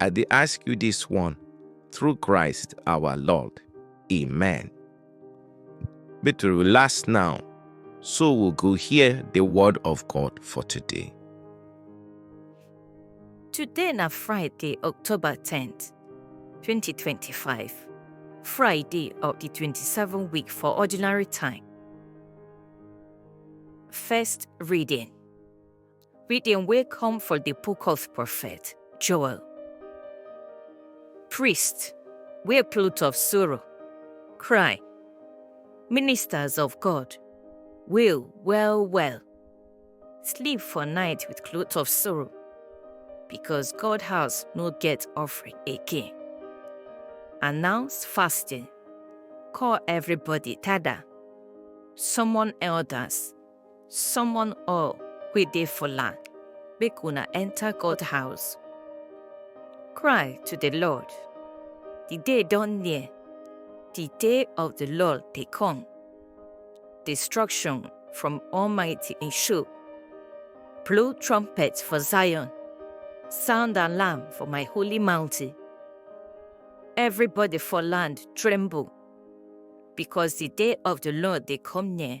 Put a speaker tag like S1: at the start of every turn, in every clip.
S1: I dey ask you this one through Christ our Lord. Amen. But we last now, so we'll go hear the word of God for today. Today na Friday, October 10th, 2025. Friday of the 27th week for ordinary time. First reading. Reading wey come from the book of prophet Joel. Priests wey plot of sorrow, cry, ministers of God, wail well well, sleep for night with cloth of sorrow, because God house no get offering again. Announce fasting, call everybody tada, summon elders, Someone all wey dey for land, make una enter God house. Cry to the Lord. The day don near. The day of the Lord dey come. Destruction from Almighty in show. Blow trumpet for Zion. Sound alarm for my holy mountain. Everybody for land tremble because the day of the Lord dey come near.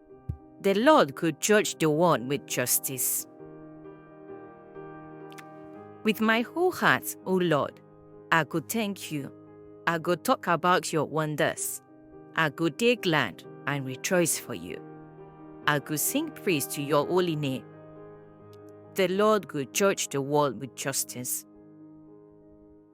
S1: The Lord could judge the one with justice. With my whole heart, O Lord, I go thank you. I go talk about your wonders. I go dey glad and rejoice for you. I go sing praise to your holy name. The Lord go judge the world with justice.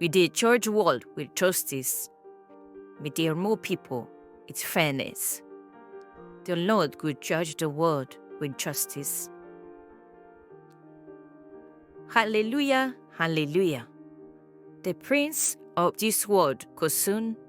S1: We dey judge world with justice. We dey rule people with fairness. The Lord go judge the world with justice. Hallelujah, hallelujah. The prince of this world go soon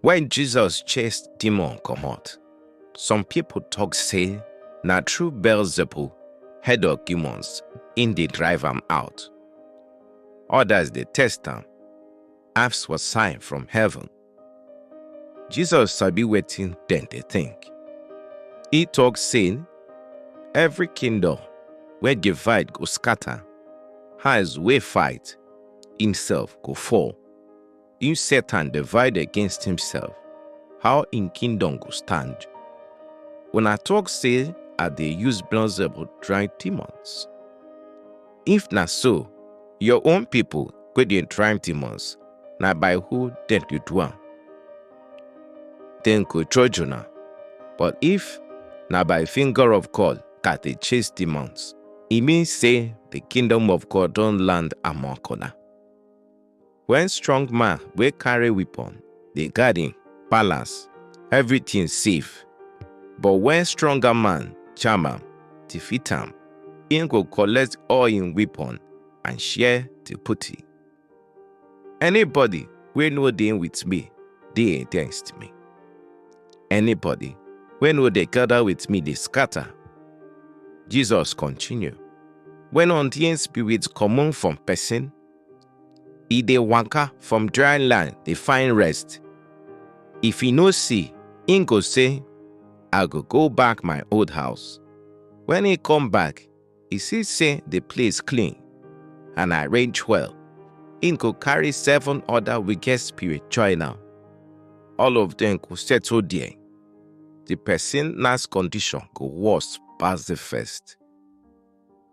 S1: When Jesus chased demon comot, some people talk say na through Beelzebul, head of demons, im dey drive am out. Others dey test am, ask for sign from heaven. Jesus sabi wetin dem dey think. E talk say, every kingdom wey divide go scatter, hands wey fight imself go fall. If Satan divide against himself, how im kingdom go stand? Una talk say I dey use Beelzebub drive demons. If na so, your own people wey dey drive demons, na by who dem dey do am? Dem go judge una. But if na by finger of God that dey chase demons, e mean say the kingdom of God don land among una. When strong man wey carry weapon dey guard him palace, everything safe. But when stronger man jam am, defeat am, him go collect all him weapon and share the booty. Anybody wey no dey with me dey against me. Anybody wey no dey gather with me dey scatter. Jesus continue. When unclean spirit comot from person, e dey waka from dry land dey find rest if e no see im go say i go go back my old house when e come back e see say the place clean and arrange well im go carry seven other wicked spirit join am all of them go settle there the person last condition go worse pass the first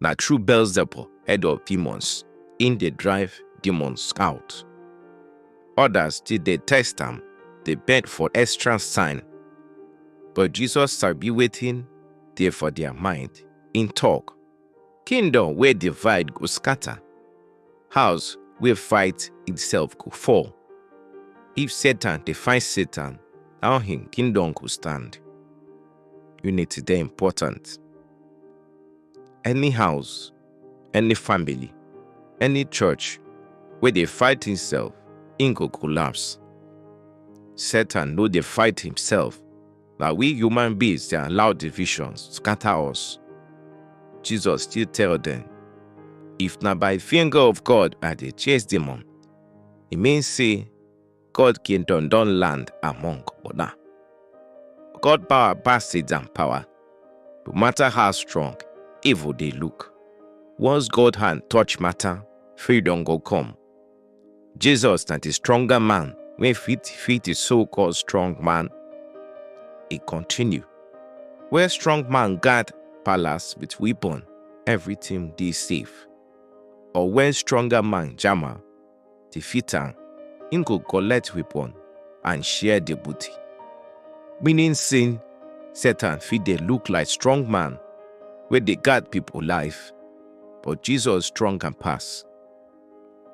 S1: na through Beelzebub, head of demons, im dey drive demons out. Others still dey test am, dey beg for extra sign. But Jesus sabi wetin dey for their mind. Im talk, Kingdom wey divide go scatter, house wey fight itself go fall. If Satan dey fight Satan, how him kingdom go stand? Unity dey important. Any house, any family, any church wey dey fight himself, im go collapse. Satan no dey fight himself, na we human beings dey allow divisions scatter us. Jesus still tell dem, If na by finger of God I dey chase demon, e mean say God kingdom don land among una. God power pass Satan power. No matter how strong, evil dey look. Once God hand touch matter, freedom go come. Jesus na the stronger man wey fit fit the so-called strong man. E continue. Where strong man guard palace with weapon, everything dey safe. Or when stronger man jama, defeat am, im go collect weapon and share di booty. Meaning say Satan fit dey look like strong man wey dey guard pipo life, but Jesus strong am pass.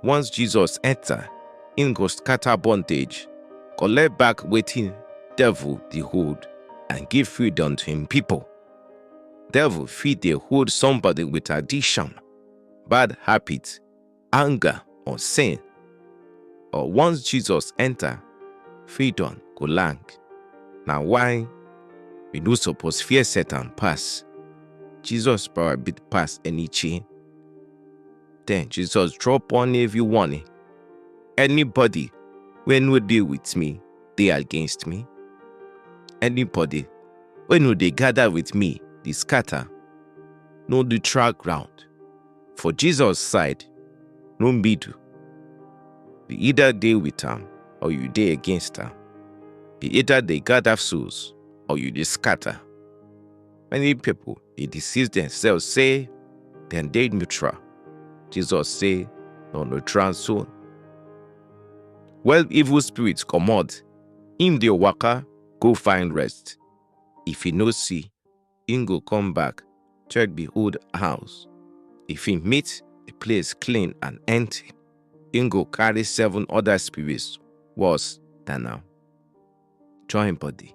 S1: Once Jesus enta, im go scatter bondage, collect back wetin devil dey hold and give freedom to im pipo. Devil fit dey hold somebody wit addiction, bad habit, anger or sin or once jesus enter freedom go land na why we no suppose fear satan pass jesus power big pass any chain then jesus drop on every warning anybody wey no dey with me dey against me anybody wey no dey gather with me dey scatter no dey track ground For Jesus side, no middle. You either dey with am or you dey against am. You either dey gather souls or you dey scatter. Many people dey deceive themselves say dem dey neutral. Jesus say no neutral zone. When evil spirits comot, im dey waka go find rest. If e no see, im go come back, check the old house. If he meet the place clean and empty, im go carry seven other spirits worse than am join body.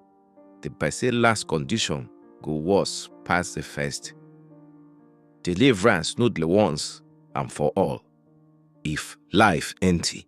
S1: The person last condition go worse pass the first. Deliverance no dey once and for all. If life empty,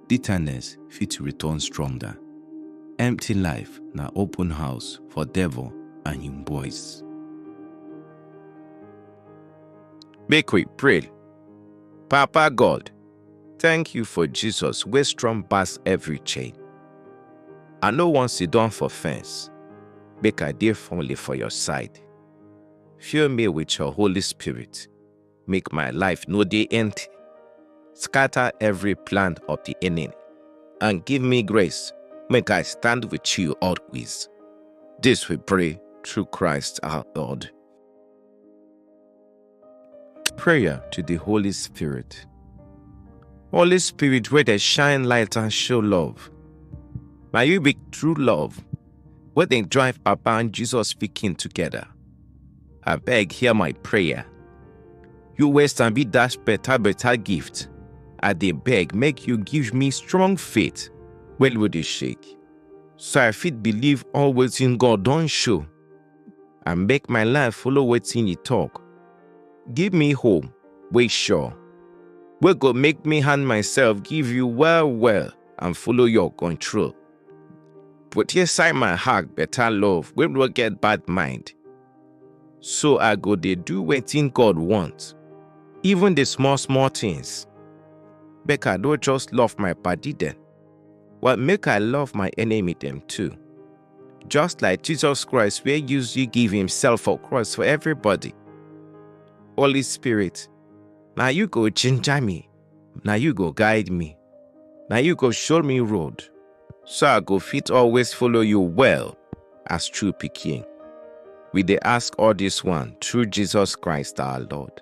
S1: bitterness fit return stronger. Empty life na open house for devil and him boys. Make we pray. Papa God, thank you for Jesus wey strong pass every chain. I no wan sit down for fence, make I dey firmly for your side. Fill me with your Holy Spirit make my life no dey empty. Scatter every plan of the enemy and give me grace make I stand with you always. This we pray through Christ our Lord. Prayer to the Holy Spirit. Holy Spirit, where they shine light and show love. May you be true love, where they drive Papa and Jesus speaking together. I beg, hear my prayer. You waste and be dash better, better gift. I dey beg, make you give me strong faith. Well, we dey shake. So I fit believe all wetin God don show. I make my life follow wetin he talk. Give me hope, wey sure. Wey go make me hand myself give you well, well and follow your control. Put inside my heart better love wey no get bad mind. So I go dey do wetin God want, even the small small things. Make I no just love my padi dem, but make I love my enemy dem too. Just like Jesus Christ wey use you give himself for cross for everybody. Holy Spirit, na you go ginger me na you go guide me na you go show me road so i go fit always follow you well as true pikin we dey ask all this one through jesus christ our lord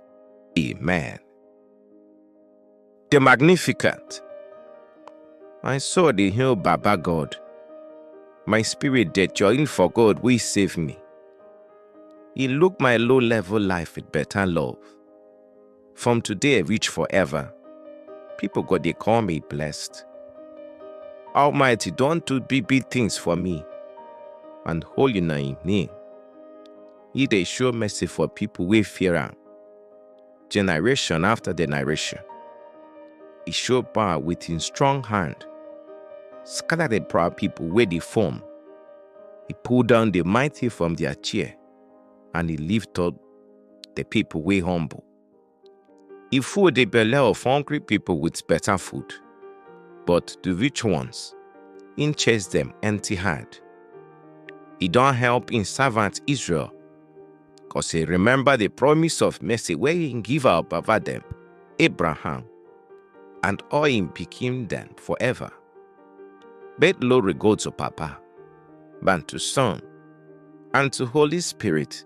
S1: amen the magnificent my soul dey hail baba god my spirit dey join for god wey save me he look my low level life with better love From today reach forever, people go dey call me blessed. Almighty don do big big things for me, and holy na im name. He dey show mercy for people wey fear am, generation after generation. He show power with him strong hand, scatter the proud people wey dey form. He pull down the mighty from their chair, and he lift up the people wey humble. E full the belle of hungry people with better food, but the rich ones, im chase them empty hand. E don help im servant Israel, cause e remember the promise of mercy wey im give our baba dem, Abraham, and all im pikin dem forever. Make glory go to Papa, and to Son, and to Holy Spirit,